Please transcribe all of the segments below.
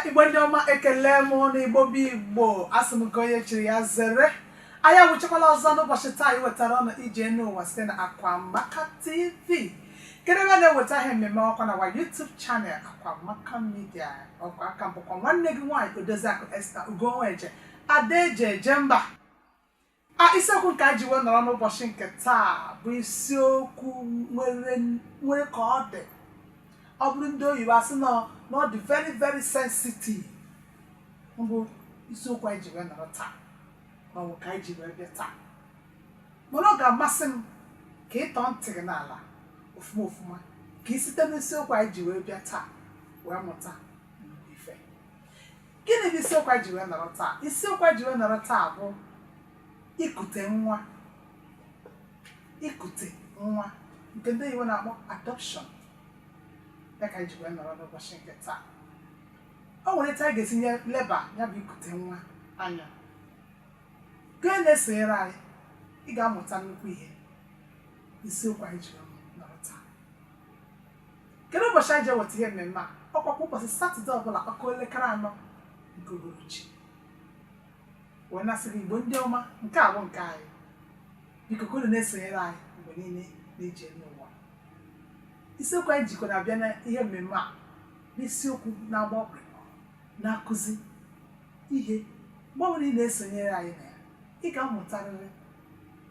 igbo ndị ọma ekele m na igbo bụ igbo asị m ka onye chiri ya zere anyị awụchakwala ọzọ n'ụbọchị taa iwetara unu ije n'ụwa site na akwamaka tv kedu ebe a na-eweta ihe mmemme a ọkwa n'ọwa YouTube channel akwamaka media ọkwa a ka m bụkwa nwanne gị nwaanyị odoziakụ Esther Ugonweje Ada eji eje mba a isiokwu nke anyị ji wee nọrọ n'ụbọchị nke taa bụ isiokwu nwere nwere ka ọ dị ọ bụrụ ndị oyibo asị na na ọ dị very very sensitive bụ isiokwu anyị ji wee nọrọ taa ma ọ bụ ka anyị ji wee bịa taa mana ọ ga-amasị m ka ị tọọ ntị gị n'ala ofuma ofuma ka ị site n'isiokwu anyị ji wee bịa taa wee mụta nnukwu ife Gịnị bụ isiokwu a ji wee nọrọ taa? Isiokwu a ji wee nọrọ taa bụ ikute nwa ikute nwa nke ndị oyibo na-akpọ adoption ya ka anyị ji wee nọrọ n'ụbọchị nke taa o nwere etu a ga-esi wee leba ya bụ ikute nwa anya gị na-esonyere anyị ị ga-amụta nnukwu ihe isiokwu anyị ji wee kedu ụbọchị anyị ji eweta ihe mmemme a ọkwa kwa ụbọchị satọde ọbụla ọ kụọ elekere anọ nke uhuruchi wee na-asị gị igbo ndị ọma nke a bụ nke anyị biko ka unu na-esonyere anyị mgbe niile n'ije n'ụwa isiokwu anyị jikwanụ abịa na ihe mmemme a n'isiokwu na-agba ọkpụrụkpụ na-akụzi ihe mgbe ọbụla ị na-esonyere anyị na ya ị ga-amụtarịrị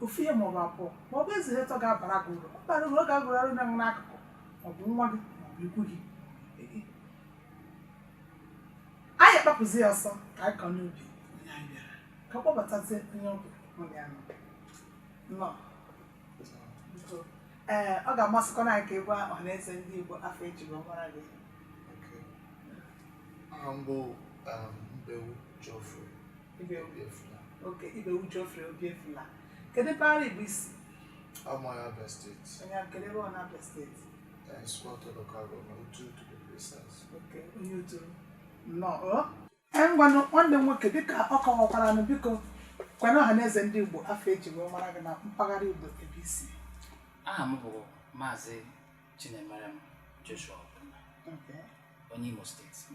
ofu ihe maọbụ abụọ ma ọ bụzi ihe atọ ga-abara gị uru bara uru ọ ga-agụrụ arụ na n'akụkụ maọbụ nwa gị maọbụ ikwu gị anyị akpapụzi ya ọsọ ka anyị kọ n'ubi ka m kpọbatazie onye ọ bụ mụ na ya nọ ee ọ ga-amasịkwanụ anyị ka ị gwa ọha na eze ndị Igbo afa e ji wee mara gị Okay. Aha m bụ um, Ibewu Geoffrey. ibe Obiefula okay Ibewu Geoffrey Obiefula kedu mpaghara igbo i si a m onye Abịa steeti onye Abịa kedu ebe n'Abịa steeti Isuikwuato local government Uturu to be precise okay onye Uturu nnọọ o ee ngwanụ nwanne m nwoke dịka ọ kọwakwara nụ biko gwanụ ọha na eze ndị igbo afa e ji wee mara gị na mpaghara igbo ebe i si aha m bụ maazị chinemerem joshua Ogbonna Okay. onye imo steeti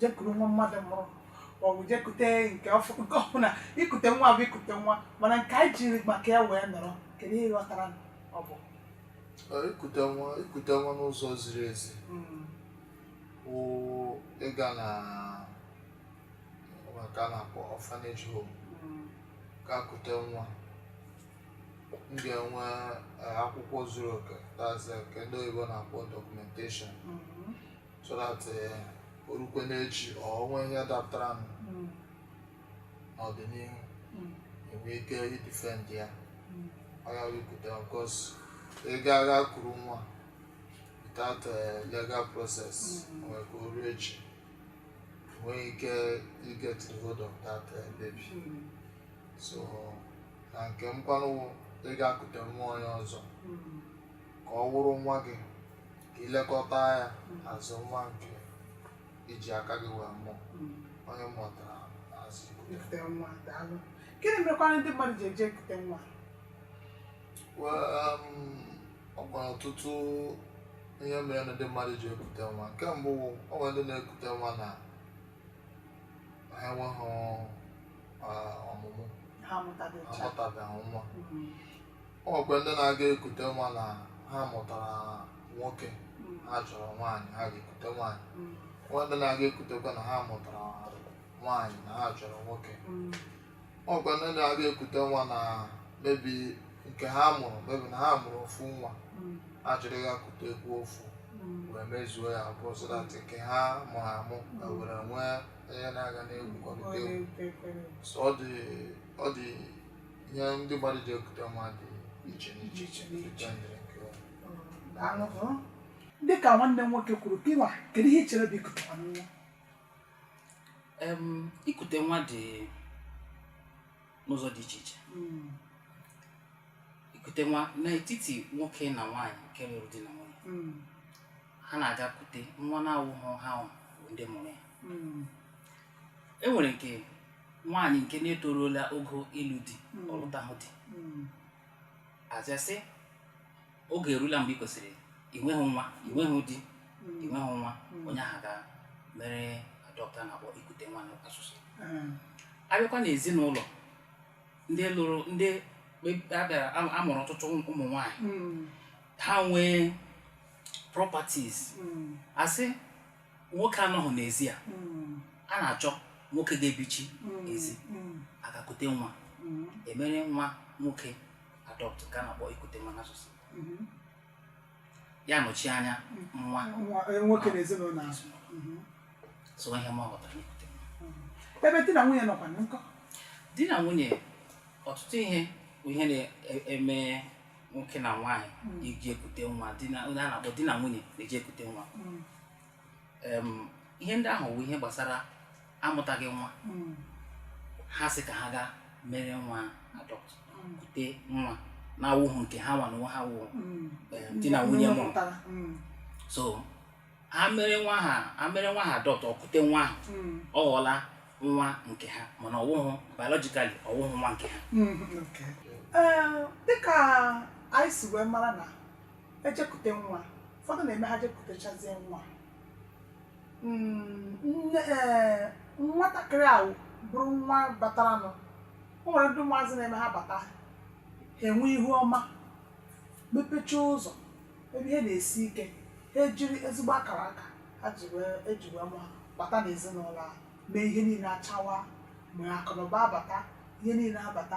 jekuru nwa mmadụ mụrụ maọbụ jekute nke ọbụla ikute nwa bụ ikute nwa mana nke anyị jiri maka ya wee nọrọ kedu ihe ị ghọtara na ọ bụ ikute nwa ikute nwa n'ụzọ ziri ezi hmm. wụ ịga na nke a na-akpọ orphanage home hmm. gaa kute nwa m ga-enwe eh, akwụkwọ zuru oke that is eh, nke ndị oyibo na-akpọ documentation hmm. so that eh, o rukwe n'echi ọ onwe ihe dapụtara nụ Mm. n'ọdịnihu Mm. e nwee ike idefend ya Mm. ọ ya wụ ikute because ị ga-aga kuru nwa without eh, legal process Mm. nwere ike o ruo echi i nweghị ike iget the hold of that eh, baby Mm. so na nke m kwanụ ị ga-ekute nwa onye ọzọ Mm. ka ọ wụrụ nwa gị ka i lekọta ya as nwa nke i ji aka gị wee mụọ ọ ihe m ghọtara as ikute nwa, daalụ. Gịnị mekwara ndị mmadụ ji eje ekute nwa? Well, um, o nwere ọtụtụ ihe mere na ndị mmadụ ji ekute nwa nke mbụ wụ, o nwere ndị na-ekute nwa na ha enweghị ah, ọmụmụ Ha amụtabecha. amụtabeghị nwa Mm. o nwekwa ndị na-aga ekute nwa na ha mụtara nwoke ha chọrọ nwaanyị ha ga-ekute nwaanyị nwee ndị na-aga ekutekwa na ha mụtara nwaanyị na ha chọrọ nwoke o nwekwa ndị na-aga ekute nwa na maybe nke ha mụrụ maybe na ha mụrụ ofu nwa ha chọrọ ịga kutekwu ofu wee mezuo ya abụọ so that nke ha mụrụ amụ e were nwee onye ya na ya ga na-egwukọlịta egwu so ọ dị ọ dị ihe ndị mmadụ ji ekute nwa dị iche n'iche iche n'iche dị ka nwanne m nwoke kwuru gịwa kedu ihe i chere bụ ikute nwa ikute nwa dị n'ụzọ dị iche iche hmm. ikute nwa n'etiti nwoke na nwaanyị nke lụrụ di na nwunye hmm. ha na-aga kute nwa na-awụghị ha ndị mụrụ ya hmm. e nwere nke nwaanyị nke na-etoruola ogo ịlụ di Mm. ọ lụtahụ di Mm. a sị sị oge erula mgbe ị kwesịrị inweghị nwa inweghị di Mm. inweghị nwa Mm. onye ahụ gaa mere adopt a na-akpọ ikute nwa n'asụsụ Ah. a bịakwa n'ezinụlọ ndị lụrụ ndị kpe- a bịara a- a mụrụ ọtụtụ ụmụ nwaanyị Mm. ha nwee properties Mm. a sị nwoke anọghị n'ezi a Mm, a na-achọ nwoke ga-ebichi mm, ezi mm, a gaa kute nwa mm, e mere nwa nwoke adopt ka a na-akpọ ikute nwa n'asụsụ mhm. ya nọchi anya nwa Nwa- eh, nwoke n'ezinụlọ ahụ Mhm. so ihe m ghọtara n'ikute nwa ebe di na nwunye nọkwanụ nkọ di na nwunye ọtụtụ ihe bụ ihe na-eme nwoke na nwaanyị na-eji ekute nwa di na nwunye a na-akpọ di na nwunye na-eji ekute nwa Em, ihe ndị ahụ bụ ihe gbasara amụtaghị nwa ha sị ka ha gaa mere nwa adopt kute nwa na-awụghị nke ha nwa n'onwe ha wụ em, di na nwunye mụrụ so ha mere nwa ahụ adopt o kute nwa ahụ Mm. ọ ghọọla nwa nke ha mana ọwụhụ biologically ọwụhụ nwa nke ha Mm, okay. Ee, dịka anyị si wee mara na e jekute nwa ụfọdụ na-eme ha jekutechazie nwa Mm, nwatakịrị ahụ bụrụ nwa bataranụ o nwere ndị ụmụazị na-eme ha bata ha enwe ihu ọma mepecha ụzọ ebe ihe na-esi ike ha ejiri ezigbo akara aka ha ji wee eji wee mụ ha bata n'ezinụlọ ahụ mee ihe niile achawa ma akụnụba abata ihe niile abata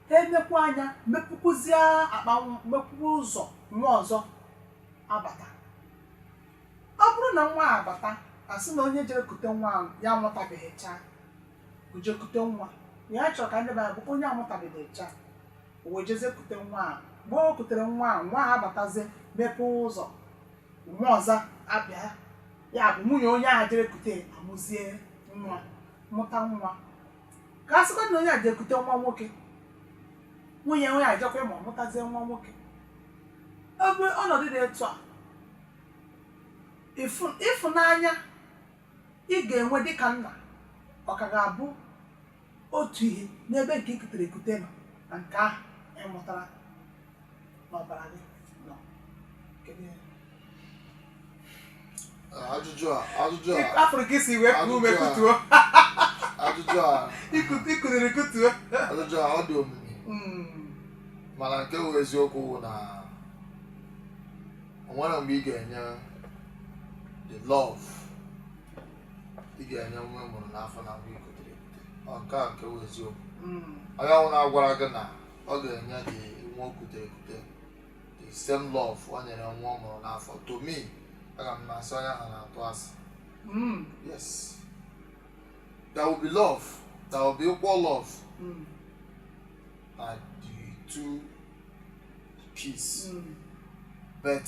ha emekwa anya mepụkwuzie akpa nwa- mepụkwa ụzọ nwa ọzọ abata ọ bụrụ na nwa a abata a sị na onye jere kute nwa ahụ ya amụtabeghị chaa o jee kute nwa ya chọrọ ka ndị be anyị bụ onye amụtabeghị chaa o wee jezie kute nwa a mgbe o kutere nwa a nwa a abatazie mepee ụzọ nwa ọzọ abịa ya bụ nwunye onye a jere kute amụzie nwa mụta nwa ka a sịkwa na onye a jere kute nwa nwoke nwunye onye a jekwa mụọ mụtazie nwa nwoke ebe ọnọdụ dị etu a ịfụ- ịfụnanya ị ga-enwe dịka nna ọ ka ga-abụ otu ihe n'ebe nke i kutere ekute nọ na nke ahụ ị mụtara n'ọbara gị nọ ajụjụ a ajụjụ a afụrụ ka i si wee kuo ume kutuo i kutere kutuo ajụjụ a ọ dị omimi Mm, mana nke bụ eziokwu bụ na o nwere mgbe ị ga-enye the love ị ga-enye nwa ị mụrụ n'afọ na nwa i kutere ekute ọ nke a nke bụ eziokwu Mm. onye ọbụla gwara gị na ọ ga-enye gị nwa o kutere ekute the same love o nyere nwa ọ mụrụ n'afọ to me aga m na-asị onye ahụ na-atụ asị Mm. yes there will be love there will be equal love Mm. na the two peace Mm. but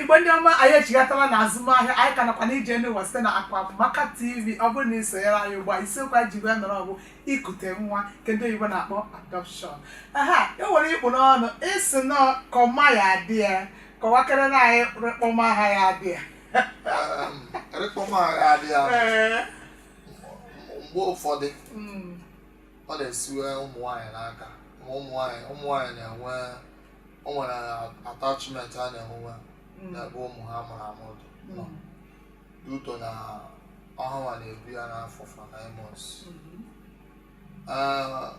igbo ndị ọma anyị echighatala na azụmahịa anyị ka nakwa n'ije n'ụwa site na akwamaka tv ọ bụrụ na i sonyere anyị ugbu a isiokwu anyị ji wee nọrọ ọ bụ ikute nwa nke ndị oyibo na-akpọ adoption aha e nwere ikpu n'ọnụ ịsị na kọma ya adị ya kọwakere na anyị rịkpọma ha ya adị ya rịkpọma ha ya adị ya mgbe ụfọdụ mm. ọ na-esiwe ụmụ nwaanyị n'aka ụmụ nwaanyị na-enwe o nwere attachment a na-enwe Mm. n'ebe ụmụ ha mụrụ amụ dị Mm. due to na ọ hanwa na-ebu ya n'afọ for nine months Mhm. Ah,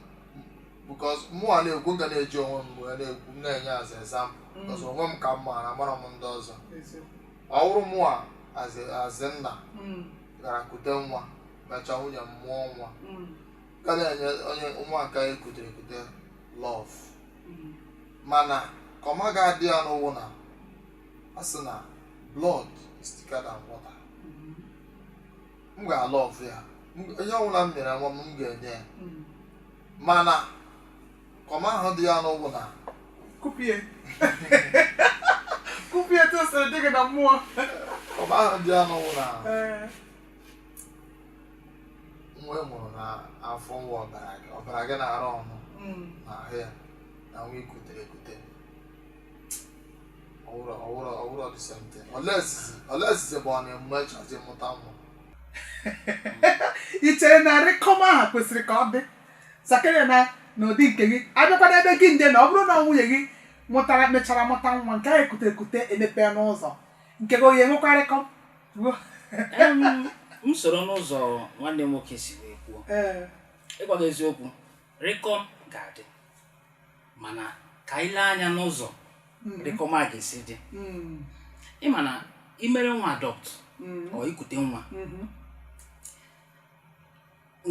because mụnwa na-ekwu nga na-eji onwe m wee na-ekwu m na-enye as example Mm. because onwe m ka m maara amara m ndị ọzọ Eziokwu. ọ wụrụ mụnwa as nna Mm. gara kute nwa mechaa nwunye m mụọ nwa Mm. ka na-enye onye nwa nke ekutere ekute love mana comma ga-adị ya n'ụwụ na a sị na blood is thicker than water m ga-alọv ya M- ihe ọbụla m nyere nwa m m ga-enye ya mana comma ahụ dị ya n'ụwụ na kupie kupie tụsịrị dị gị na mmụọ comma ahụ dị ya n'ụwụ na Ee. nwa ị mụrụ n'afọ nwa ọbara gị ọbara gị na-arụ ọrụ mm. n'ahụ ya na nwa ikutere ekute ọwụrụ ọwụrụ ọwụrụ the same thing olesizi bụ ọ na-emechazi mụta nwa i chere na rịkọm ahụ kwesịrị ka ọ dị sakere na n'ụdị nke gị abịakwana ebe gị nde na ọ bụrụ na nwunye gị mụtara mechara mụta nwa nke ahụ ekute ekute emepee ụzọ nke gị ọ ya-enwekwa rịkọm m soro n'ụzọ nwanne m nwoke si wee kwuo ịgwa gị eziokwu rịkọm ga-adị mana ka anyị lee anya n'ụzọ mm-hmm. rịkọm a ga-esi dị mm. ịma na imere nwa adopt mm. or ikute nwa mm-hmm.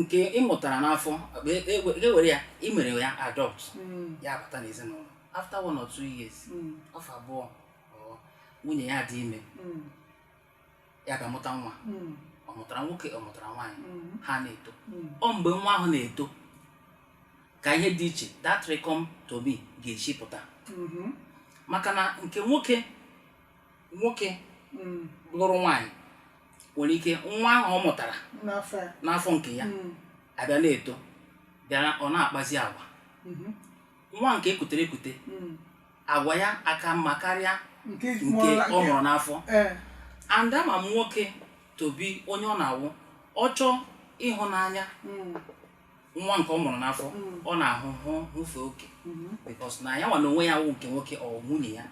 nke ị mụtara n'afọ ka e were e, e, e ya imere ya adopt mm. ya abata n'ezinụlọ after one or two years afọ abụọ nwunye ya dị ime ya gaa mụta nwa ọ mụtara nwoke ọ mụtara nwaanyị ha na-eto ọ mgbe nwa ahụ na-eto ka ihe dị iche that rịkọm to me ga-esi pụta maka na nke nwoke nwoke lụrụ nwaanyị nwere ike nwa ahụ ọ mụtara n'afọ nke ya abịa na-eto bịara ọ na-akpazi agwa nwa nke ekutere ekute mm. agwa ya aka mma karịa nke ọ mụrụ n'afọ eh. and a man nwoke to be onye ọ na-awụ ọ chọọ ịhụnanya mm. nwa nke ọ mụrụ n'afọ mm. ọ na-ahụ hụ hụfe oke mm-hmm. because na ya nwa na onwe ya wụ nke nwoke ọ nwunye ya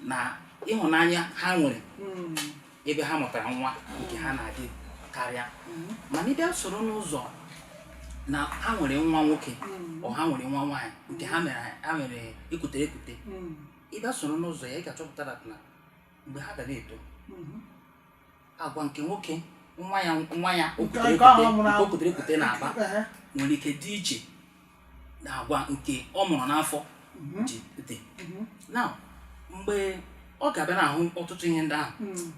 na ịhụnanya ha nwere ebe ha mụtara nwa nke ha na-adị karịa mm-hmm. mana ị bịa soro n'ụzọ na ha nwere nwa nwoke mm-hmm. or ha nwere nwa nwaanyị nke ha mere ha mere ekutere ekute mm-hmm. ị bịa soro n'ụzọ ya ị ga-achọpụta na mgbe ha ga na-eto agwa nke nwoke nwa ya nwa ya o kutere ekute na-akpa nwere ike dị iche na agwa nke ọ mụrụ n'afọ mhm. ji dị mhm. na mgbe ọ ga-abịa na-ahụ ọtụtụ ihe ndị ahụ hmm.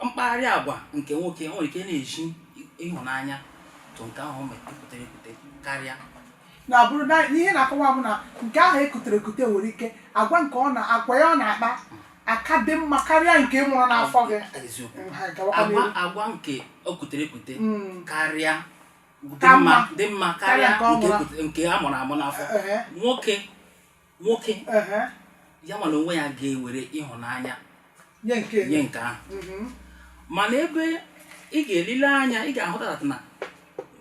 mkpagharị agwa nke nwoke nwere ike na-ezi ịhụnanya tụ nke ahụ ekutere ekute karịa na bụrụ na ihe na-akọwa bụ na nke ahụ ekutere ekute nwere ike agwa nke agwa ya ọ na-akpa aka dị mma karịa nke mụrụ n'afọ gị agwa nke o kutere ekute hmm. karịa dị mma dị mma karịa nke a mụrụ amụ n'afọ nwoke nwoke ya mana onwe ya ga-ewere ịhụnanya nye nke ahụ mhm. mana ebe ị ga-elile anya ị ga-ahụtata na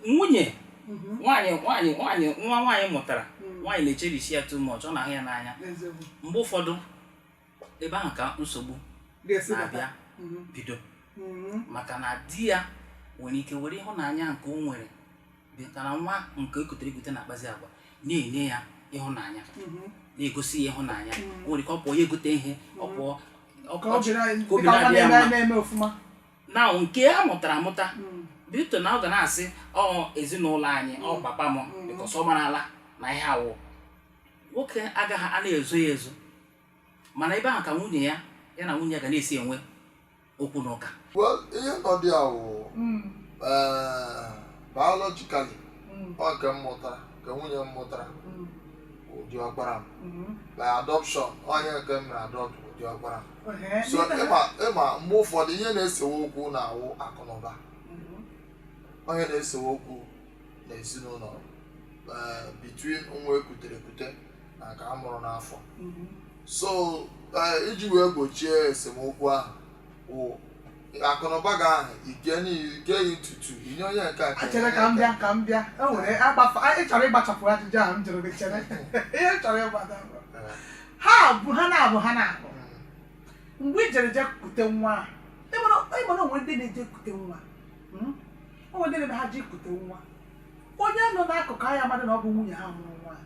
nwunye mhm. nwaanyị nwaanyị nwaanyị nwa nwaanyị mụtara mhm. nwaanyị na-echerish ya too much ọ na-ahụ ya n'anya mgbe ụfọdụ ebe ahụ ka nsogbu ga-esi bata na-abịa Mhm. bido Mhm. maka na di ya nwere ike were ịhụnanya nke o nwere dịka na nwa nke o kutere ekute na-akpazi agwa na-enye ya ịhụnanya Mhm. na-egosi ya ịhụnanya Mm. o nwere ike ọ pụọ ya egote ihe ọ Mm. pụọ ọ- ka ọ- obi na- ka obi dịka nwa na-adị ya na-eme mma. na-eme ọfụma na nke a mụtara amụta Mm. bido na ọ ga na-asị ọ ezinụlọ anyị ọ Mm. papa m Mm. because ọ marala na ihe a wụ nwoke agaghị a na-ezo ya ezo mana ebe ahụ ka nwunye ya ya na nwunye ya ga na-esi enwe okwu na ụka well ihe nọdụ ya wụ biologically ọ nke m mụtara nke nwunye m mụtara wụ diọkpara m by adoption onye nke m mere adopt wụ diọkpara m so ị ma mgbe ụfọdụ ihe na-esewe okwu na-awụ akụ na ụba ọ ya na-esewe okwu n'ezinụlọ eh, between nwa ekutere ekute na nke a mụrụ n'afọ so eh, iji wee gbochie esemokwu ahụ wụ akụnụba gị ahụ ike n'igeghị ntutu i nye onye nke a Chere ka m bịa ka m bịa e nwere agbafa anyị chọrọ ịgbachapụ ajụjụ ahụ m jụrụ gị chere ihe m chọrọ ịgbada bụ, Eh, ha bụ ha na-abụ ha na-abụ mm, mgbe i jere je kute nwa ahụ ị ma na o nwe ndị na-eje ekute nwa mm? o nwe ndị na-eme ha ji kute nwa onye nọ n'akụkụ anya mmadụ na ọ bụ nwunye ha mụrụ nwa ahụ.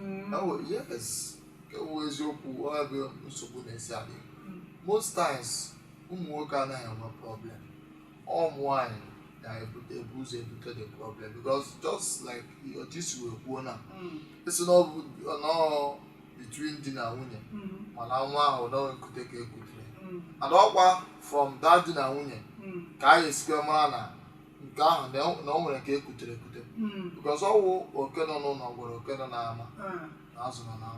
mm. oh, yes ikwu eziokwu ebe nsogbu na-esi abịa mm. most times ụmụ nwoke anaghị enwe problem ụmụ nwanyị na-ebu ụzọ ebute the problem because just like otu i si wee kwuo na mm. a sị na ọ nọọ between di na nwunye ma na nwa ahụ na ọ nkute ka ekutere and ọkwa from that di na nwunye ka anyị esikwe mara na nke ahụ na o- na o nwere nke ekutere ekute Mm, because ọ wụ oke nọ n'ụlọ gwara oke nọ n'ama ah, na azụ nọ na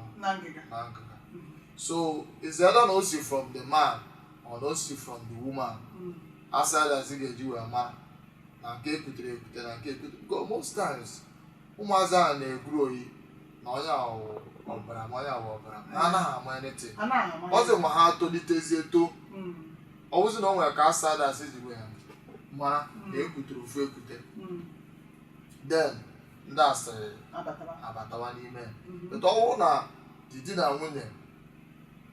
ngịga Mm, so is either na o si from the man or na o si from the woman mm, outsiders ga-eji wee mara na nke ekutere ekute na nke ekute because most times ụmụazị ahụ na-egwuru oyi na onye a wụ ọbara ma onye a wụ ọbara ha anaghị ama anything ọzọ ma ha tolitezie etoo Mm, ọ bụzi na o nwere ka outsiders si wee mara na ekutere ofu ekute mm, then ndị asịrị abatawa n'ime ya Mhm. but ọ bụrụ na di di na nwunye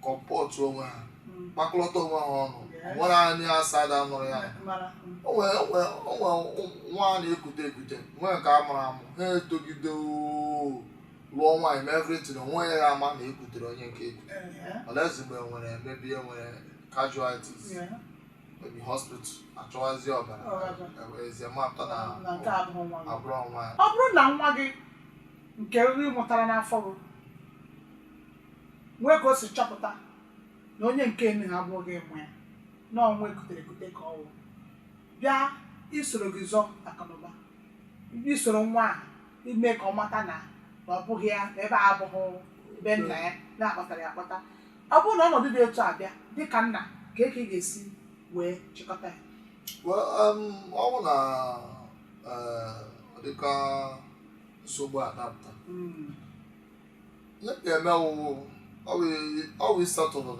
comport onwe ha mm. kpakọlọta onwe ha ọnụ nwere any outsider nụrụ ya o nwee nwa a na-ekute ekute nwee nke a mụrụ amụ ha etogide lụọ nwaanyị mee everything o nweghị ama na ekutere onye nke ekute unless mgbe e nwere maybe e nwere casualties maybe hospital achọwazi ọbara ewezie mapụta na ọ bụghị nwa ya ọ bụrụ na nwa gị nke ị mụtara n'afọ gị nwee ka o si chọpụta na onye nke enu ha abụghị ị mụ ya na ọ nwa ekutere ekute ka ọ wụ bịa isoro gị zọọ akụnụba bịa isoro nwa a ime ka ọ mata na na ọ bụghị ya na ebe a abụghị be nna ya na a kpọtara ya akpọta ọ bụrụ na ọnọdụ dị otu a bịa dị ka nna kee ka ị ga-esi wee chịkọta ya Well, um, ọ bụ na eh, ọ dịka nsogbu a dapụta Mm, ihe ị ga-eme ọ wụ i settle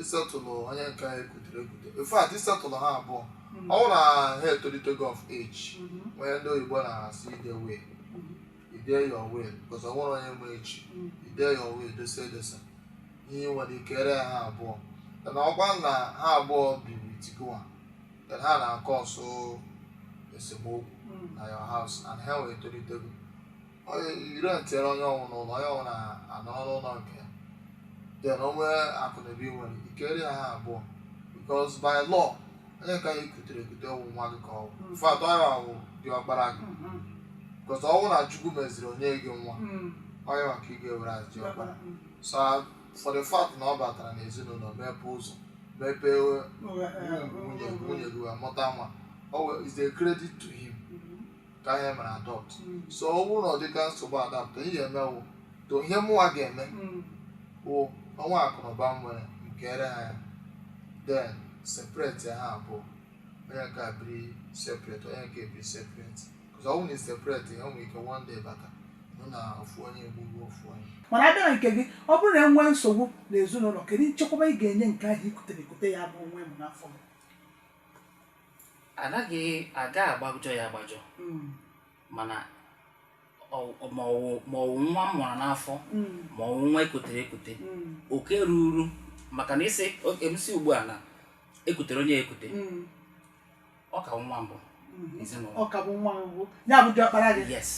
i settle onye nke ahụ ekutere ekute in fact i settle ha abụọ mm-hmm. ọ wụrụ na ha etolitego of age mm-hmm. ihe ndị oyibo na-asị i dee will mm-hmm. i dee your will because o nweghị onye ma echi i dee your will edosa edosa ihe i nwere i keere ha abụọ na ọkwa na ha abụọ biri together then ha na-acause esemokwu na your house and ha etolitego onye ị rentịere onye ọ wụla ụlọ onye ọ wụla anọrọ n'ụlọ nke ya then o nwee akụnụba i nwere i keere ha abụọ because by law onye nke ahụ ekutere ekute ọ wụ nwa gị ka ọ wụ in fact ọ ya wụ diọkpara gị Mhm. because ọ wụ na Chukwu meziri nye gị nwa Mm. onye a ka ị ga-ewere as diọkpara so for the fact na ọ batara n'ezinụlọ mepee ụzọ mepee Ụwa, eh, nwunye ụwa. nwunye gị wee mụta nwa o wee- is a credit to him Mhm. ka anyị mere adopt Mm. so ọ bụrụ na ọ dịka nsogbu adapụta ihe ga-eme wụ to ihe mụnwa ga-eme Mm. bụ o nwee akụnụba m nwere m keere ha ya then separate ha abụọ onye nke a biri separate onye nke biri separate because ọ bụrụ na ị separate ya o nwere ike one day bata nụ na ofu onye egbuo ofu onye mana abịa na nke gị ọ bụrụ na enwee nsogbu n'ezinụlọ kedu nchekwaba ị ga-enye nke ahụ ikutere ekute ya bụ nwa m mụ n'afọ m anaghị aga agbajọ ya agbajọ mm. mana ma ọwụ nwa m mụrụ n'afọ mm. ma ọwụ nwa ekutere ekute mm. oke ruru maka na ị sị em sị ugbu a na ekutere onye ekute ọ ka wụ nwa mbụ n'ezinụlọ ọ ka bụ nwa mbụ ya bụ diọkpara gị yes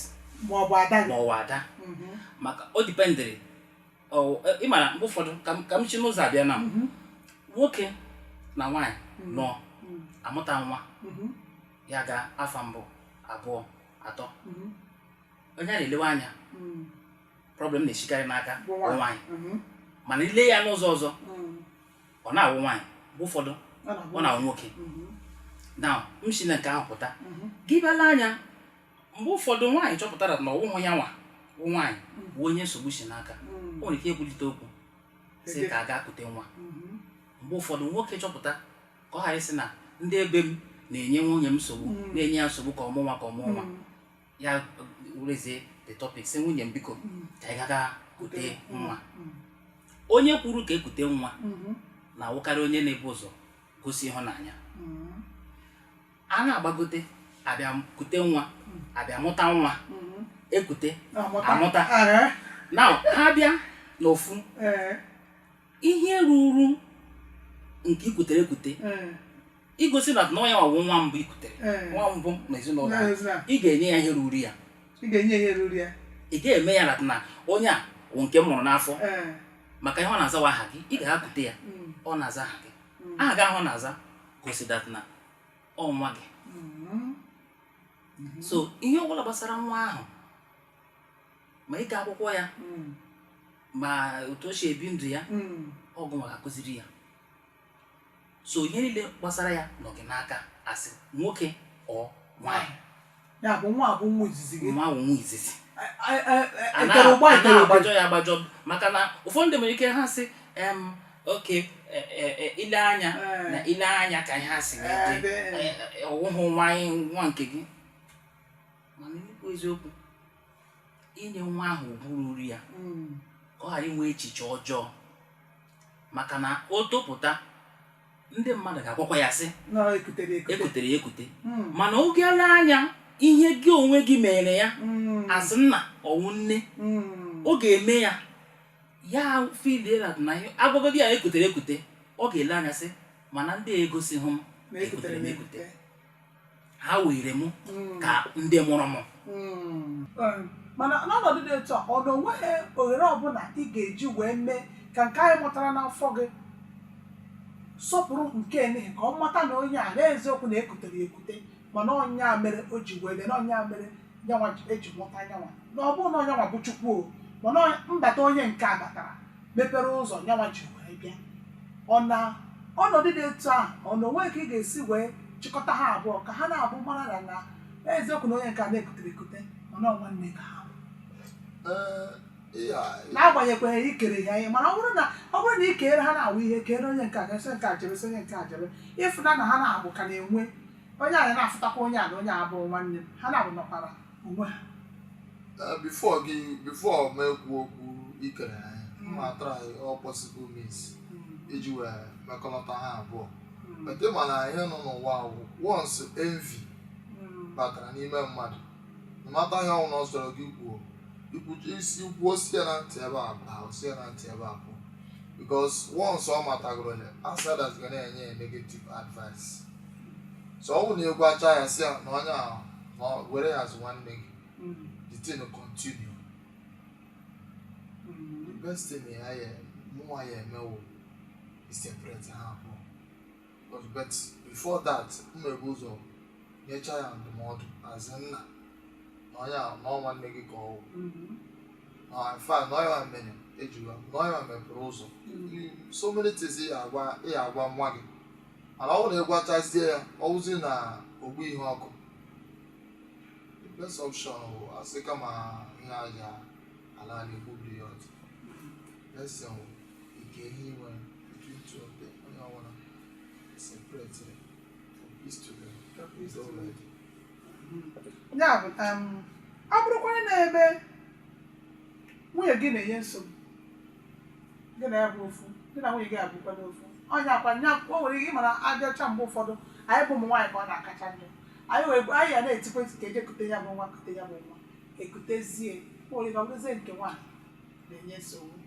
ma ọ bụ ada gị ma ọ bụ ada mm-hmm. maka o dependịrị ị mara mgbe ụfọdụ ka m si n'ụzọ abịa na mhm. nwoke na nwaanyị mhm. nọ mhm. amụta nwa ya gaa afọ mbụ abụọ atọ onye a na-elewe anya problem na-esikarị n'aka nwaanyị mana i lee ya n'ụzọ ọzọ ọ na-awụ nwaanyị mgbe ụfọdụ ọ na-awụ nwoke na m si na nke ahụ pụta gị bịa lee anya mgbe ụfọdụ nwaanyị chọpụtara na ọwụhụ ya nwa bụ nwaanyị bụ onye nsogbu si n'aka o nwere ike ekwulite okwu sị ka a gaa kute nwa mgbe ụfọdụ nwoke chọpụta ka ọ ghara ịsị na ndị ebe m na-enye nwunye m nsogbu na-enye ya nsogbu ka ọ mụọ nwa ka ọ mụọ nwa ya werezie the topic sị nwunye m biko ka anyị gaga kute nwa onye kwuru ka ekute nwa na-awụkarị onye na-ebu ụzọ gosi ịhụnanya a na-agbagote abịa kute nwa abịa mụta nwa ekute amụta na ha bịa n'ofu ihe ruru nke ikutere ekute igosi that na onye ọwụ nwa mbụ ikutere nwa mbụ n'ezinụlọ ị ga-enye ya ihe ruru ya ị ga-eme ya na onye a wụ nke m mụrụ n'afọ maka ihe ọ na-azawa aha gị ị gaa kute ya ọ na-aza aha gị aha gị ahụ ọ na-aza gosi that na ọ nwa gị so ihe ọbụla gbasara nwa ahụ ma ịga akwụkwọ ya ma otu o si ebi ndụ ya ọ gịnwa ga-akụziri ya so ihe niile gbasara ya nọ gị n'aka as nwoke or nwaanyị ya bụ nwa bụ nwa izizi gị nwa bụ nwa izizi anaghị agbajọ ya agbajọ maka na ụfọdụ ndị nwere ike ha sị okay e, e, e, ile anya na ile anya ka ihe ha sị ọwụhụ nwa nwa nke gị mana ikwu eziokwu inye nwa ahụ ugwu ruru ya hmm. ka ọ ghara inwe echiche ọjọọ maka na o topụta ndị mmadụ ga-agwakwa ya sị ekutere ya ekute hmm. mana ọ ga-ele anya ihe gị onwe gị mere ya hmm. as nna ọ wụ nne hmm. ọ ga-eme ya ya fidela na agwagodi ya ekutere ekute ọ ga-ele anya sị mana ndị egosihụ m ekutere m ekute ha were m ka ndị mụrụ m mana n'ọnọdụ dị etu a ọ na onweghị ohere ọbụla ị ga-eji wee mee ka nke anyị mụtara n'afọ gị sọpụrụ nke n'ihi ka ọ mata na onye a na eziokwu na ekutere ya ekute mana ọ nya mere o ji wee bịa na ọ nya mere nyanwa ji- eji mụta nyanwa na ọ bụrọ na ọ nyanwa bụ Chukwu o mana ọ- mbata onye nke a batara mepere ụzọ nyanwa ji wee bịa ọ na ọnọdụ dị etu a ọ na onwe ka ị ga-esi wee chịkọta ha abụọ ka ha naabọ mara na na eziokwu na onye nke a na ekutere ekute mana ọ nwanne ka ha bụ. Ee, ihe a- n'agbanyeghịkwa ikere ya ihe mana ọ bụrụ na ọ bụrụ na ị keere ha naabọ ihe keere onye nke a ga-asị nke a jebe sị onye nke a jebe ịfụna na ha na-abụ ka na-enwe onye a na-afụtakwa onye a na onye a bụ nwanne m ha naabọ nọkwara onwe ha eh, before gị before m ekwu okwu ikere ha ihe ma try all possible means hmm. iji wee mekọlọta ha abụọ hmm. ete mana ihe nọ n'ụwa wụ once envy hmm. batara n'ime mmadụ mata ihe ọ wụ na ọ sọrọ gị kwuo isi kwuo si ya na ntị ebe a pụọ si ya na ntị ebe a pụọ because once ọ matagoro ya outsiders ga na-enye ya negative advice so ọ bụrụ na ị gwachaa ya si ya na onye ahụ na ọ were ya as nwanne gị Mm. the thing continue Mm. the best thing ya ya mụnwa ya-eme wụ iseparate ha abụọ but but before that m na-ebu ụzọ nyecha ya ndụmọdụ as nna na onye ahụ na ọ nwanne gị ka ọ wụ Mm. in fact na ọ ya mere e ji wee na ọ ya mepere ụzọ Mm. so many things ị ya-agwa ị ya-agwa nwa gị mana ọ bụrụ na ị gwachazie ya ọ wụzi na ogbu ihe ọkụ the best option bụ asị kama ehi a ya-ala ala egbubiri ya ọdụ best thing wụ ike ihe i nwe between two of them onye ọbụla separate ya for peace to reign is already ya bụ um, ọ bụrụkwara na ebe nwunye gị na-enye nsogbu gị na ya bụ ofu gị na nwunye gị abụkwa n'ofu onye akwa nya o nwere ike ịmara aja ọcha mgbe ụfọdụ anyị bụ ụmụ nwaanyị ka ọ na-akacha njọ anyị wee anyị ya na-etikwa eti ka e je kute ya bụ nwa kute ya bụ nwa ekutezie o nwere ike ọ bụrụzie nke nwaanyị na-enye nsogbu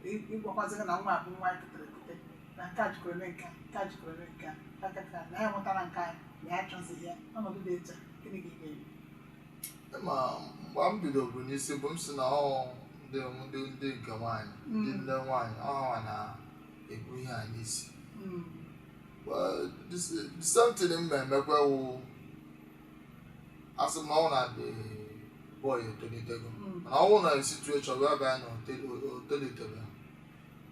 Ị- ịgwakwazị gị na nwa a bụ nwa anyị kutere ekute na nke a jikọrọ eme nke a nke a jikọrọ eme nke a aka ka na ya nwetara nke anyị na ya achọzighị ya ọnọdụ dị etu a gịnị ka ị ga-eme ma mgbe m bidoro n'isi bụ m si na ọ ndị ndị ndị nke nwaanyị ndị nne nwaanyị ọ ha na-ebu ihe a n'isi Well, this- the same thing m na-emekwa wụ asị m na ọ na the boy etolitego mana ọ wụ na situation wee bịa na o tolitebe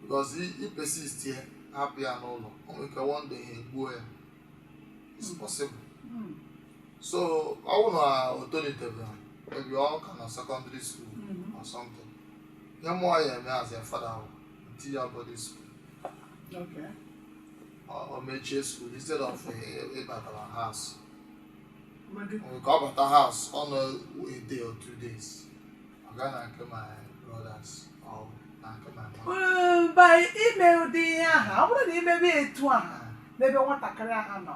because ị persist ya hapụ ya n'ụlọ o nwere ike one day ha egbuo ya it's possible so ọ bụ na o tolitebere maybe ọ ka na secondary school Mhm. or something ihe mụwa ya-eme as a father bụ m tii ya boarding school Okay. ọ ọ mechie school instead of ị- ịbatara house Mmadụ nke ọ bata house ọ nọ a day or two days ọ gaa na nke my brothers or na nke my mom Ee, by ime ụdị ihe ahụ ọ bụrụ na i mebe etu ahụ n'ebe nwatakịrị ahụ nọ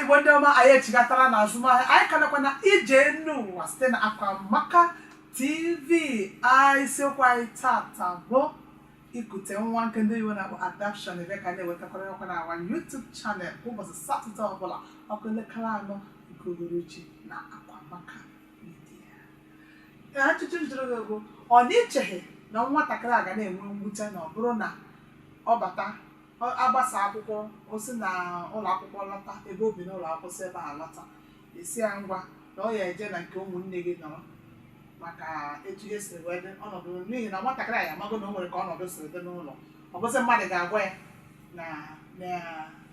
igbo ndị ọma anyị echigatara na azụmahịa anyị ka nọkwa na ije enu ụwa site na akwamaka tv isiokwu anyị taata bụ ikute nwa nke ndị oyibo na-akpọ adoption ebe ka na-ewetakwara ọkwa na our YouTube chanel kwa ụbọchị satọde ọbụla ọ kụọ elekere anọ nke uhuruchi na akwamaka ajụjụ m jụrụ gị bụ ọ na i cheghị na nwatakịrị a ga na-enwe mwute na ọ bụrụ na ọ bata ọ- a gbasaa akwụkwọ o si na ụlọ akwụkwọ lọta ebe o bi n'ụlọ akwụkwọ si ebe a lọta a sị ya ngwa na ọ ya eje na nke ụmụnne gị nọrọ maka etu ihe si wee dị ọnọdụ n'ihi na nwatakịrị a ya amago na o nwere ka ọnọdụ si dị n'ụlọ ọ bụzi mmadụ ga-agwa ya na na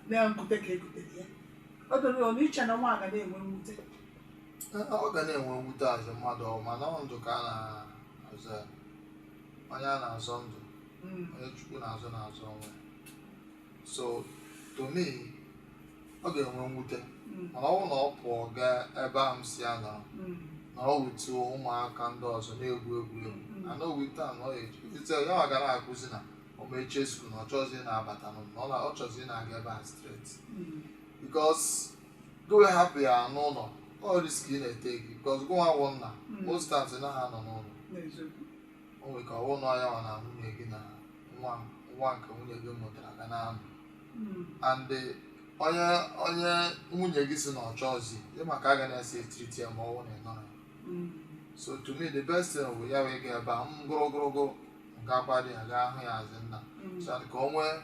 na nkute ka e kutere ya o doro ya ọ na i che na nwa a ga na-enwe mwute ọ ga na-enwe mwute as mmadụ ọ mana ọ ndụ ka a na-azọ ya onye a na-azọ ndụ onye chukwu na-azọ na-azọ onwe so to me ọ ga-enwe mwute mana ọ bụrụ na ọ pụọ gaa ebe a m si ya nọrọ now with ụmụaka ndị ọzọ na-egwu egwu na na owute a na ọ ga-ewute ya ọ ga na-ekwuzi na ọ mechie school na ọ chọzi na-abata n'ụlọ na ọ chọzi na-aga ebe a straight because gụ hapụ ya n'ụlọ ọ risk ị na-etake because gụnwa wụ nna hmm. most times ị naghị anọ n'ụlọ o nwere ike ọ wụ na ya nwa na nwunye gị na nwa nwa nke nwunye gị mụtara ga na-anọ hmm. and eh, onye onye nwunye gị si na ọ chọọzi ịma ka a ga na-esi etreat ya ma ọ wụ na ị nọrọ hmm. so to me the best thing bụ ya wee gaa ebe a m gụrụgụrụgụ m ga-akwado ya gaa hụ ya as nna so that ka o nwee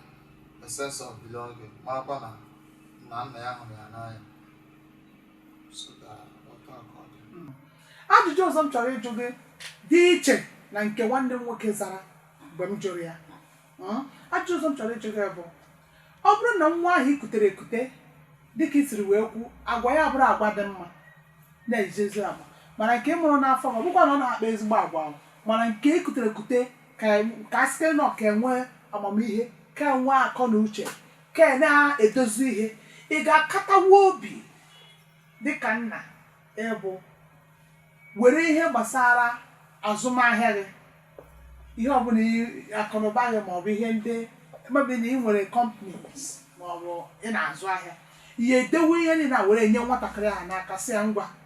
a sense of belonging marakwa na na nna ya hụrụ ya n'anya ajụjụ ọzọ m chọrọ ịjụ gị dị iche na nke nwanne m nwoke zara mgbe m jụrụ ya ajụjụ ọzọ m chọrọ ịjụ gị bụ ọ bụrụ na nwa ahụ i kutere ekute dịka i siri wee kwu agwa ya bụrụ agwa dị mma na-eji ezi agwa mana nke mụrụ n'afọ ọ bụkwa na ọ na-akpa ezigbo agwa ahụ mana nke e kutere ekute ka a site na ọ ka enwe amamihe ka enwe akọ na uche Ka ị na-edozi ihe, ị ga-akatawa obi dị ka nna ị bụ were ihe gbasara azụmahịa gị, ihe ọbụla akụnụba gị maọbụ ihe ndị maybe na ị nwere companies maọbụ ị na-azụ ahịa, ya edewe ihe niile a were nye nwatakịrị ahụ n'aka sị ya ngwa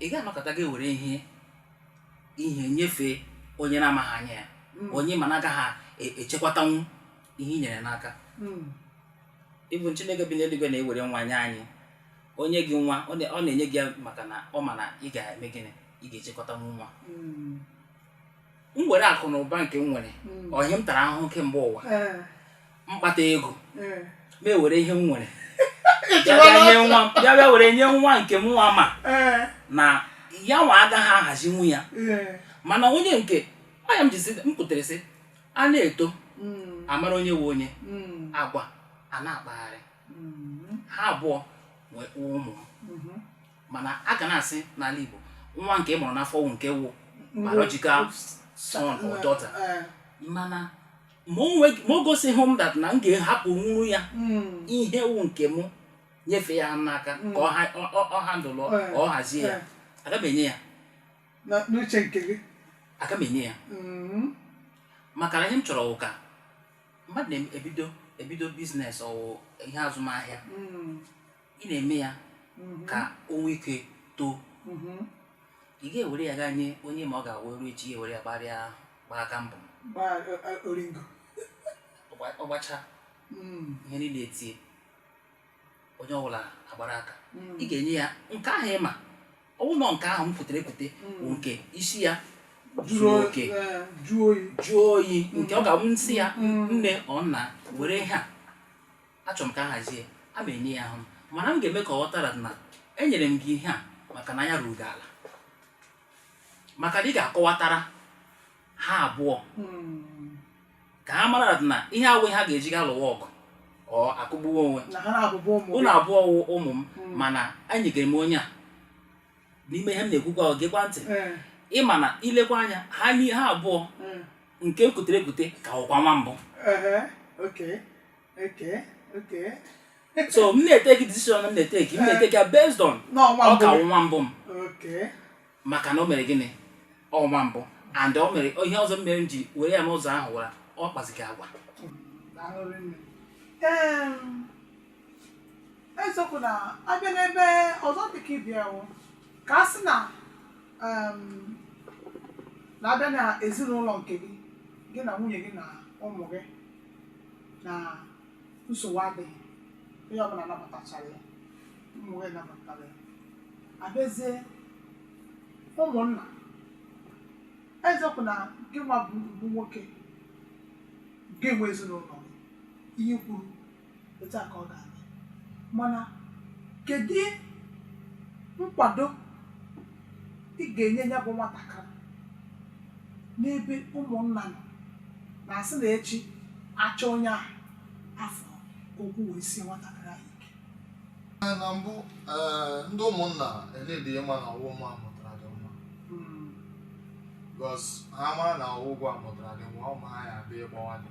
ị gaghị anọkata gị ewere ihe ihe nyefee onye na-amaghị anya ya Mm. onye ma na agaghị e- echekwatanwu ihe i nyere n'aka Mm. even Chineke bi n'eluigwe na-ewere nwa nye anyị o nye gị nwa ọ na- ọ na-enye gị ya maka na ọ ma na ị ga-eme gịnị ị ga-echekwatanwu nwa Mm. m were akụ na ụba nke m nwere Mm. ọ ihe m tara ahụhụ kemgbe ụwa Eh, m kpata ego eh. m ewere ihe m nwere Ị bịa chịwala bịa nye ọzọ. nwa m- bịa bịa were nye nwa nke mụnwa ma Eh, na yanwa agaghị ahazinwu ya eh. mana onye nke anya m jizi m kutere sị a na-eto Mm, a mara onye wụ onye mm, agwa a na-akpagharị mm, ha abụọ wụkwa ụmụ m mhm. mana a ka na-asị n'ala Igbo nwa nke ị mụrụ n'afọ wụ nke wụ biological son or daughter Eh, mana ma o nwe- ma o gosighị m that na m ga-ahapụnwuru ya mm, ihe wụ nke mụ nyefee ya n'aka Mm. ka ọ ha- ọ- ọ- ọ handle Eh, ka ọ hazie ya eh, aga m enye ya na- n'uche nke gị aga m enye ya Mm, maka na ihe m chọrọ wụ ka mmadụ na-ebido ebido business ọ wụ ihe azụmahịa mm, ị na-eme ya mhm. ka o nwee ike too mhm. ị ga-ewere ya gaa nye onye ma ọ ga-awụ e ruo echi ya ewere ya gbarịa gbaa aka mbọ oringo ọ gbacha mm. ihe niile etie onye ọbụla agbara aka mm. ị ga-enye ya nke ahụ ị ma ọ wụnụ nke ahụ m kutere ekute mm. bụ nke isi ya jụrụ oke jụọ oyi nke ọ ga-abụ m sị ya nne or nna were ha achọrọ m ka a hazie a m enye ya ahụ m mana m ga-eme ka ọ ghọtara na enyere m gị ihe a maka na anya ruru gị ala maka na ị ga-akọwatara ha abụọ Mm. ka ha mara na ihe a awụghị ihe ha ga-eji gaa lụwa ọgụ or akụgbuwa onwe na ha abụọ bụ ụmụ unu abụọ wụ ụmụ m Mm. mana enyegere m onye a n'ime ihe m na-ekwukwa ọ gekwa ntị Eh, ị ma na i lekwa anya ha ni- ha abụọ eh, nke m kutere ekute ka wụkwa nwa mbụ eh, okay. Okay, okay. so m na-eteki decision m na-eteki m eh. na-eteki ya based on ọ ka nwa mbụ m maka na o mere gịnị ọ nwa mbụ and o mere ihe ọzọ mere m ji were ya n'ụzọ ahụ wara ọ kpazighị agwa eziokwu na abịa n'ebe ọzọ dịka ịbịawo ka a sị na na-abịa na ezinụlọ nke gị gị na nwunye gị na ụmụ gị na nsogbu adịghị onye ọbụla nabatachara ya ụmụ gị nabatara ya abịazie ụmụnna eziokwu na gị nwa bụ bụ nwoke gị nwe ezinụlọ ihe i kwuru otu a ka ọ ga-adị mana kedu nkwado ị ga-enye ya bụ nwatakịrị n'ebe ụmụnna nọ na asị na echi achọ onye ahụ afọ ka okwu wee sie nwatakịrị ahụ ike Ee, na mbụ ee, ndị ụmụnna already ma na ọwụ mụa mụtara the nwa because ha mara na ọwụ gụwa mụtara the nwa ụmụ ha ya abịa ịgbawa dị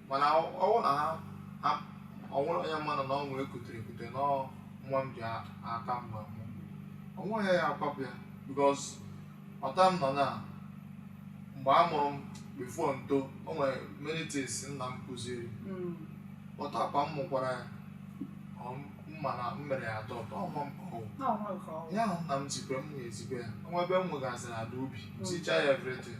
mana ọwụ na ha ha o nwere onye manụ na ọ nwa ekutere ekute na ọ nwa m ji a- aka m wee mụ onweghị ya akwapụ ya because otu a m nọ na mgbe a mụrụ m before m too o nwere many things nna m kụziri Mm. otu a kwa m mụkwara ya ọ ma na m mere ya adopt ọ nwa m ka ọ wụ. Na ọ nwa nke ọnwa. ihe ahụ nna m zikwe m na-ezikwe ya o nwee ebe m nwegasịrị ala ubi m zicha ya everything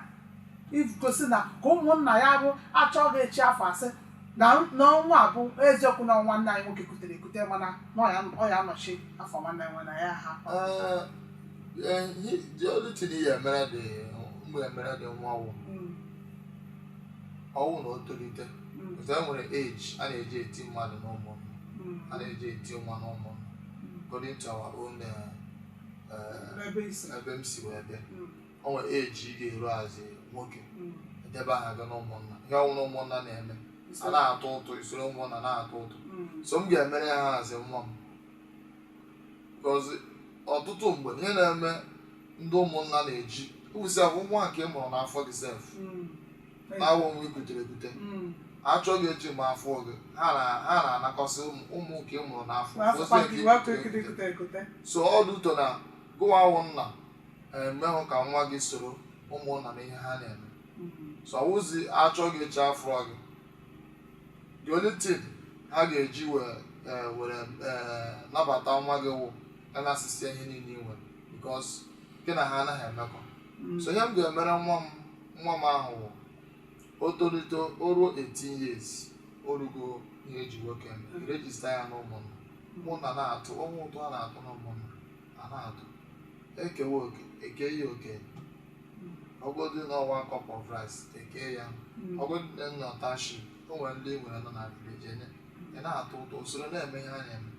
igosi na ka ụmụnna ya bụ achọ gị echi afọ asị na nwa a bụ eziokwu na nwanne anyị nwoke kutere ekute mana na ọ ya- ọ ya anọchi afọ nwanne nwe na ya ha Eh, eh, he- the only thing ihe mere dị mgbe emere the nwa ọwụ Mm, ọwụ na o tolite mm, ọzọ e nwere age a na-eji eti mmadụ n'ụmụnna, a na-eji eti nwa n'ụmụnna. according to our own eh, eh, Ebe isi. ebe m si wee bịa Mm. o nwere age ị ga-eru as nwoke edebe aha gị na ụmụnna ihe ọwụna ụmụnna na-eme a na-atụ ụtụ isoro ụmụnna na-atụ ụtụ so m ga-emere ya ha as nwa m because ọtụtụ mgbe ihe na-eme ndị ụmụnna na-eji ụbụsị abụ nwa nke ị mụrụ n'afọ gị sef na-awụ nwa ikutere ekute achọ gị echi ma afọ gị ha na- ha na-anakọsị ụmụ- ụmụ nke ị mụrụ n'afọ ọzị nke ikutere ekute. so ọ dị ụtọ na gụwa awụ nna emeghụ ka nwa gị soro ụmụnna na ihe ha na-eme so ọwụzi achọ gị echi afụrọ gị the only thing ha ga-eji wee eh, were eh, nabata nwa gị wụ a nasịsịa ihe niile i nwere because gị na ha anaghị emekọ so ihe m ga-emere nwa m nwa m ahụ wụ o tolite o ruo 18 years o rugo ihe eji nwoke eme rejista ya n'ụmụnna ụmụnna na-atụ o nwee ụtụ a na-atụ n'ụmụnna a na-atụ e kewa oke e kee ya oke ọ wụgodu na ọ wụ a cup of rice e kee ya ọ wụgodu na ọ nọ township o nwere ndị e nwere nọ na village e nye ị na-atụ ụtụ i soro na-eme ihe a na-eme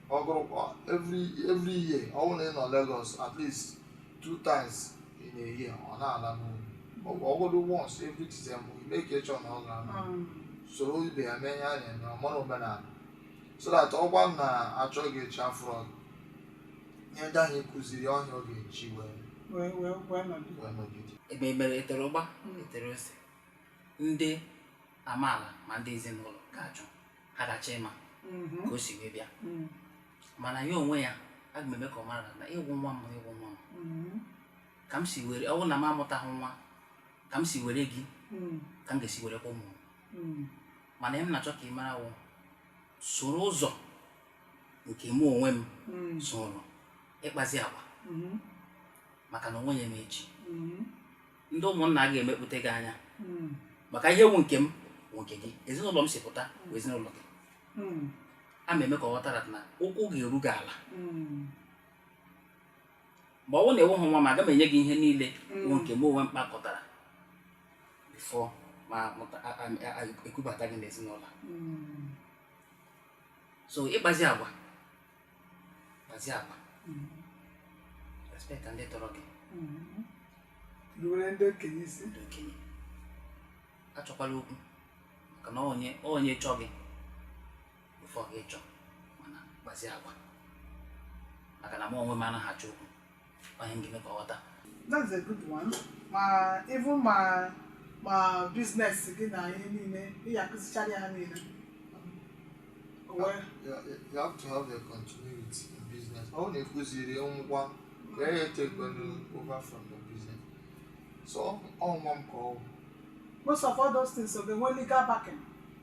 ọ wụrụkwa every every year ọ bụrụ na ị nọ Lagos at least two times in a year ọ na-ala n'ụlọ ọ wụ ọ wụdụ once every December ị make sure na ọ gara na soro ibe ya mee ihe a na-eme ọ mara omenala so that ọ wụrụ na achọ gị echi afụrọ gị ihe ndị ahụ ị kụziri ọ wụ ya ọ ga-eji wee wee wee wee nọdụ wee nọgide ebe emere etere ụgba etere ose ndị amaala ma ndị ezinụlọ ga-achọ ha ga-achọ ịma Mhm. ka o si wee bịa Mm. mana ya onwe ya aga m eme ka ọ mara na ị wụ nwa m ị wụ nwa m Mm. ka m si were ọ bụrụ na m amụtaghị nwa ka m si were gị Mm. ka m ga-esi werekwa ụmụ m Mm. mana ihe m na-achọ ka ị mara wụ soro ụzọ nke mụ onwe m Mm. soro ị kpazie agwa Mhm. maka na o nwee ihe mee echi Mhm. ndị ụmụnna ga-emekpute gị anya Mm. maka ihe wu nke m wụ nke gị ezinụlọ m si pụta bụ ezinụlọ gị Mm. aga m eme ka ọ ghọtara na ụkwụ ga-eru gị ala Mm. mgbe ọ wụ na enweghị nwa m aga m enye gị ihe niile bụ nke m onwe m kpakọtara before m amụta- a- a- a- ekubata gị n'ezinụlọ so ị kpazie agwa kpazie agwa respect ndị tọrọ gị ruwere ndị okenye isi ndị okenye achọkwala okwu maka na onye onye chọọ gị before gị chọọ mana kpazie agwa maka na m onwe m anaghị achọ okwu onye m ga-eme ka ọ ghọta that's a good one ma even ma ma business gị na ihe niile ị ya-akụzichara ya ha niile O wee You, you you have to have a continuity in business. Ọ bụrụ na ị kụziri nwa ka ọ takekwanụ over from your business. So ọ nwa m ka ọ bụ. most of all those things so they nwee legal backing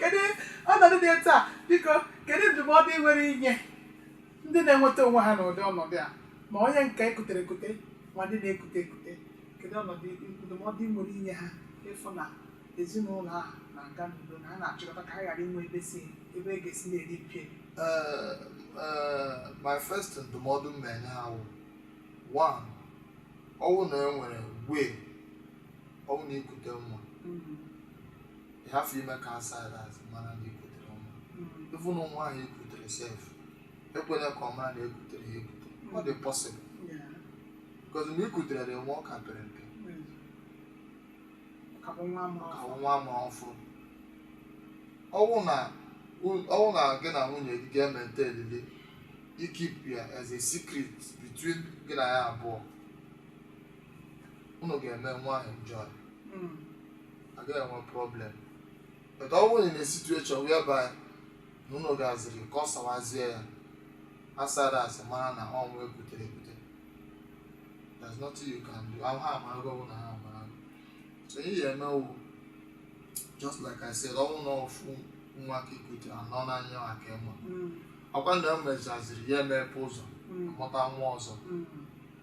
kedu ọnọdụ dị etu a biko kedu ndụmọdụ ị nwere inye ndị na-enweta onwe ha n'ụdị ọnọdụ a ma onye nke ekutere ekute ma ndị na-ekute ekute kedu ọnọdụ ndụmọdụ ị nwere inye ha ịfụ na ezinụlọ ahụ na-aga n'udo na ha na-achịkọta ka ha ghara inwe ebe si ebe e ga-esi na-eri mperi Eh, eh, my first ndụmọdụ m na-enye ha wụ one ọwụ na e nwere way ọwụ na ikute nwa ị have ime ka outsiders amana na ikutere nwa even nwa ahụ ikutere sef ekwela ka ọ mara na ekutere ya ekute ọ dị possible because ma ikutere the nwa ọ ka pere mpe ka bụ nwa amụrụ ka nwa amụrụ ọfụrụ ọwụ na ọwụ na gị na nwunye gị ga-emente elili ikeep ya as a secret between gị na ya abụọ unu ga-eme nwa ahụ enjoy hmm. agaghị enwe problem but ọ bụrụ na situation whereby na unu gaziri kọsawazie ya outsiders mara na ọ nwa ekutere ekute there's nothing you can do ha amarago bụ na ha amara so ihe ị ya-eme wụ just like I said ọwụ na ofu nwa ka ikute anọ n'anya ha ka ịma hmm. ọkwa na emechaziri ya emepe ụzọ hmm. mụta nwa ọzọ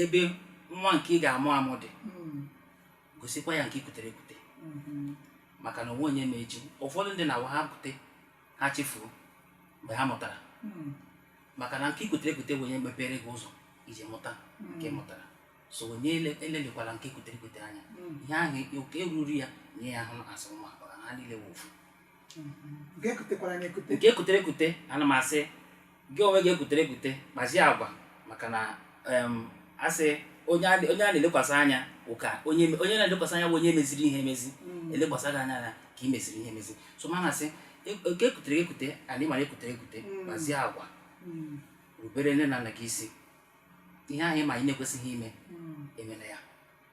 ebe nwa nke ị ga-amụ amụ dị mm. gosikwa ya nke ị kutere ekute mm-hmm. maka na onwe onye ma echi ụfọdụ ndị na-awụ ha kute ha chefuo mgbe ha mụtara mm. maka na nke ikutere ekute bụ onye mepere gị ụzọ iji mụta nke mm. mụtara so onye elelịkwala nke ikutere ekute anya ihe ahụ oke ruru ya nye ya ahụ asị nwa ha niile wụ ofu mm-hmm. nke ekutere ekute ana m asị gị onwe gị ekutere ekute kpazie agwa maka na asị onye a na-elekwasị anya ụka onye na-elekwasị anya bụ onye meziri ihe emezi mm. elekwasị gị anya na ka ị meziri ihe emezi so ma na-asị e, e, nke ekutere ekute anyị ma na ekutere ekute mm. kpazie agwa mm. rubere nne na nna gị isi ihe ahụ ị ma ị na-ekwesịghị ime emela ya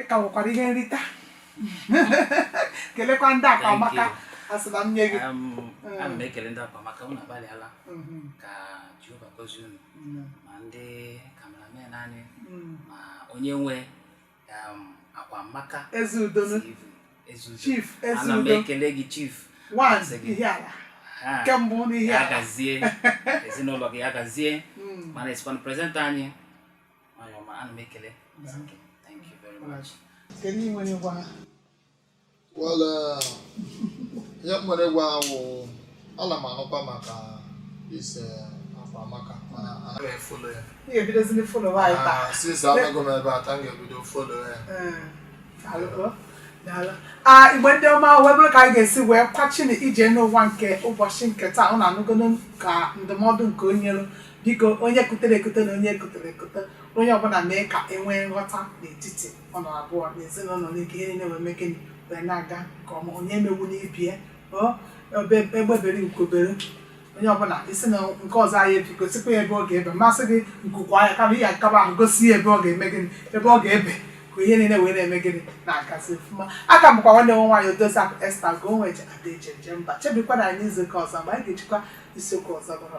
ịka nwekwara ihe nrita kelekwa ndị Akwaamaka asịba m nye gị ana m ekele ndị Akwaamaka unu agbalịala ka Jehova gọzie unu ma ndị cameramen anyị ma onye nwe Akwaamaka Ezeudo chief Ezeudo ana m ekele gị chief nwaanyị Ihiala nke mbụ n'ihe ya gazie ezinụlọ gị ya gazie mana esikwana presenter anyị ihe nwere ịgwa ha wụ ala m anụkwa maka ise Akwa Amaka mana anaghị e-follow ya since abịago m ebe a taa m ga-ebido follow ya ah, Igbo ndị ọma wee bụrụ ka anyị ga-esi wee kwachina ije n'ụwa nke ụbọchị nke taa ụnụ anụgonụ ka ndụmọdụ nke o nyelu biko onye kutere ekute na onye kutere ekute onye ọbụla mee ka e nwee nghọta n'etiti ụnụ abụọ na ezinụlọ ụnụ ka ihe niile wee mee gịnị wee na-aga nke ọma onye emegbuna ibe ya ọ ebe egbe bere ugo bere onye ọbụla sị na nke ọzọ ayị ebe gosikwa ya ebe ọ ga-ebe m asịghị nku kwaa ya kama ihe akaba ahụ gosi ya ebe ọ ga-eme gịnị ebe ọ ga-ebe ka ihe niile wee na-eme gịnị na-agazi ọfụma aka m bụkwa nwanne ụnụ nwaanyị Odoziakụ Esther gụọ nwe je Ada eji eje mba chebikwanụ anyị izu ụka ọzọ mgbe anyị ga-ejikwa isiokwu ọzọ bụrụ